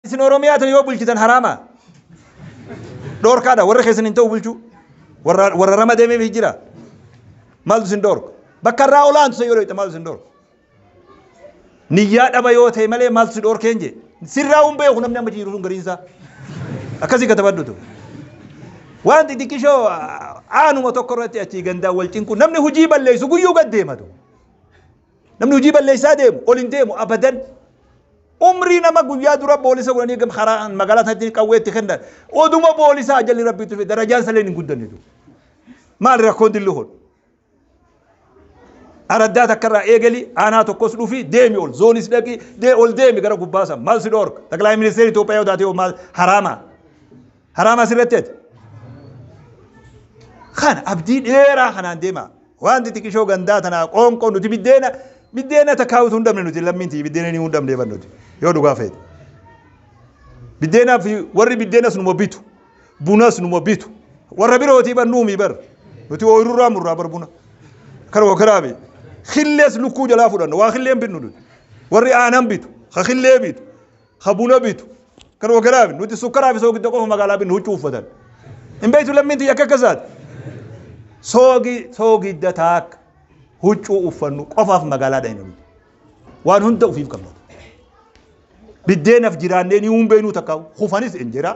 Isin Oromiyaa tana yoo bulchitan haraama. Dhoorkaadha warra keessan hin ta'u bulchuu. Warra warra rama deemeef jira. Maaltu isin dhoorka? Bakka irraa olaantu san yoo dhoyte maaltu isin dhoorka? Niyyaa dhaba yoo ta'e malee maaltu si dhoorkeen jee. Sirraa hin beeku namni amma jiru sun gariin isaa. Akkasii katabadhutu. Waan xixiqqishoo aanuma tokko irratti achii gandaan wal cinqu namni hojii balleessu guyyuu gad deematu. Namni hojii balleessaa deemu ol hin deemu abadan. Umrii nama guyyaa dura boolisa godhanii gam karaa magaalaa isaatti qawwee itti kennan. Oduma boolisaa ajalli rabbii tufe darajaan salee hin guddanne tu. Maal rakkoon dilli kun? Araddaa takkarraa eegali aanaa tokkos dhufi deemi ol zoonis dhaqi dee ol deemi gara gubbaasan maal si dhoorka? Xaqilaayi ministeerri Itoophiyaa yoo taate hoo maal haraamaa? Haraama asirratti ati. Kana abdii dheeraa kanaan deemaa. Wanti xiqishoo gandaa tanaa qoonqoo nuti biddeena biddeena takkaa utuu hin dhabne nuti lammiin tiyya biddeena ni hin dhabne ban nuti yoo dhugaa feete. Biddeenaa fi warri biddeenas numa bitu bunas numa bitu warra birootii ban nuumi bar nuti ooyirurraa murraa bar buna kan wakaraa bee killees lukkuu jalaa fudhanna waa killeen bitnu nuti warri aanan bitu ka killee bitu ka buna bitu, kan wakaraa bitu. Nuti sukkaraa fi soogidda qofa magaalaa binna huccuu uffatan. Hin beektu lammiin tiyya akka akkasaati. Soogi soogidda taakka huccuu uffannu qofaaf magaalaa dhayna nuti. Waan hunda ufiif qabna. Biddeenaf jiraannee ni huun beeknuu takka hufanis injeraa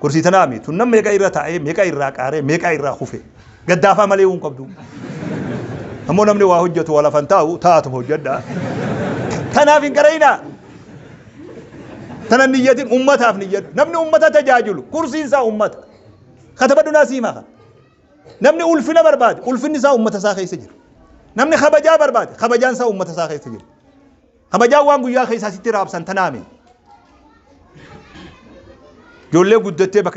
Gorsii tanaa mi tun nam meeqa irra taa'ee meeqa irraa qaaree meeqa irraa kufe gaddaafaa malee uun qabdu. Ammoo namni waa hojjetu waa lafan taa'u taa'atuma hojjedha. Tanaaf hin qara'inaa. Tanan niyyatin ummataaf niyyadhu. Namni ummata tajaajilu kursiin isaa ummata. Katabadhu naa siimaa kana. Namni ulfina barbaade ulfinni isaa ummata isaa keessa jira. Namni kabajaa barbaade kabajaan isaa ummata isaa keessa jira. Kabajaan waan guyyaa keessaa sitti raabsan tanaami. Ijoollee guddattee bakka.